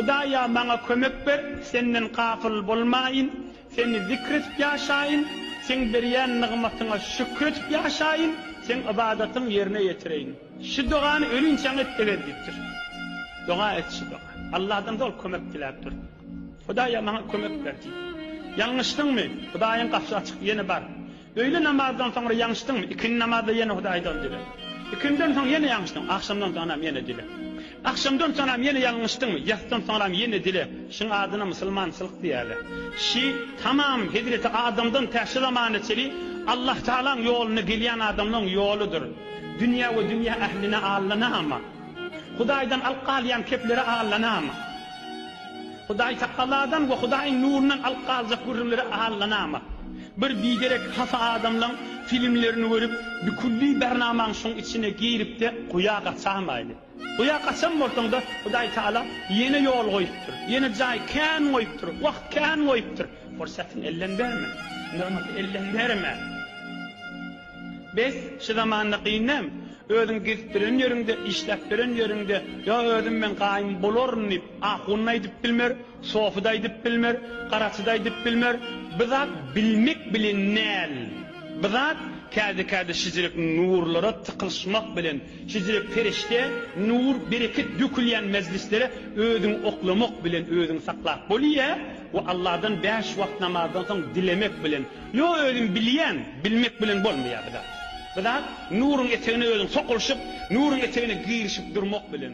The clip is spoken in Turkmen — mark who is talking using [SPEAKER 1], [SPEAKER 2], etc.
[SPEAKER 1] Hudaýa maňa kömek ber, Senden gafyl bolmaýyn, Seni zikr edip ýaşaýyn, Seň berýän nygmatyňa şükür edip ýaşaýyn, Seň ybadatyňy ýerine ýetireýin. Şu dogany ölünçäň et eger diýipdir. Doga et şu doga. Allahdan doly kömek diläp dur. Hudaýa maňa kömek ber diýip. Ýalňyşdyňmy? Hudaýyň gapysy açyk ýene bar. Öýle namazdan soňra ýaňşdyň, ikindi namazda ýene Hudaýy doly dileg. Ikiniden soň ýene ýaňşdyň, agşamdan soňram ýene dileg. Agşamdan soňram ýene ýalňyşdyň, ýasydan soňram ýene dileg. Şuň adyna musulmançylyk diýäle. Şi, tamam Hezreti Adamdan tä şu zamana çeli Allahtagalaň ýoluna gelýän adamlaň ýoludyr. Dünýä we dünýä ähline allanama. Hudaýdan alyp galýan kepleri allanamy? Hudaý takalladan we Hudaýyň nurundan alyp galjak gürrüňleri allanamy? Bir biderek hapa adamlaň filmlerini görüp, bikülli bernamaň şoň içine girip-de guýa gaçamaýly. Guýa gaçan bolsaň-da, Hudaý Taala ýene ýol goýupdyr, ýene jaý kän goýupdyr, wagt kän goýupdyr. Pursatyňy elden berme. Nygmaty elden berme. Bes, şu zamanda gyn näme? Özüň gezip ýören ýeriňde, işläp ýören ýeriňde, ýa özüm men gaýym bolaryn diýip, ahun-da aýdyp bilmer, sofy-da aýdyp bilmer, garaçy-da aýdyp bilmer. Bu zat bilmek bilen näl? Bu zat käde-käde şijirek nurlara tykylyşmak bilen, şijirek perişde, nur, bereket dökülýän mejlislere özüňi oklamak bilen özüňi saklap bolýa we Allahdan bäş wagt namazdan soň dilemek bilen. Ýok özüm bilýän bilmek bilen bolmaýar bizat. Bizat nuryň etegine özüň sokulyşyp nuryň etegine girişip durmak bilen.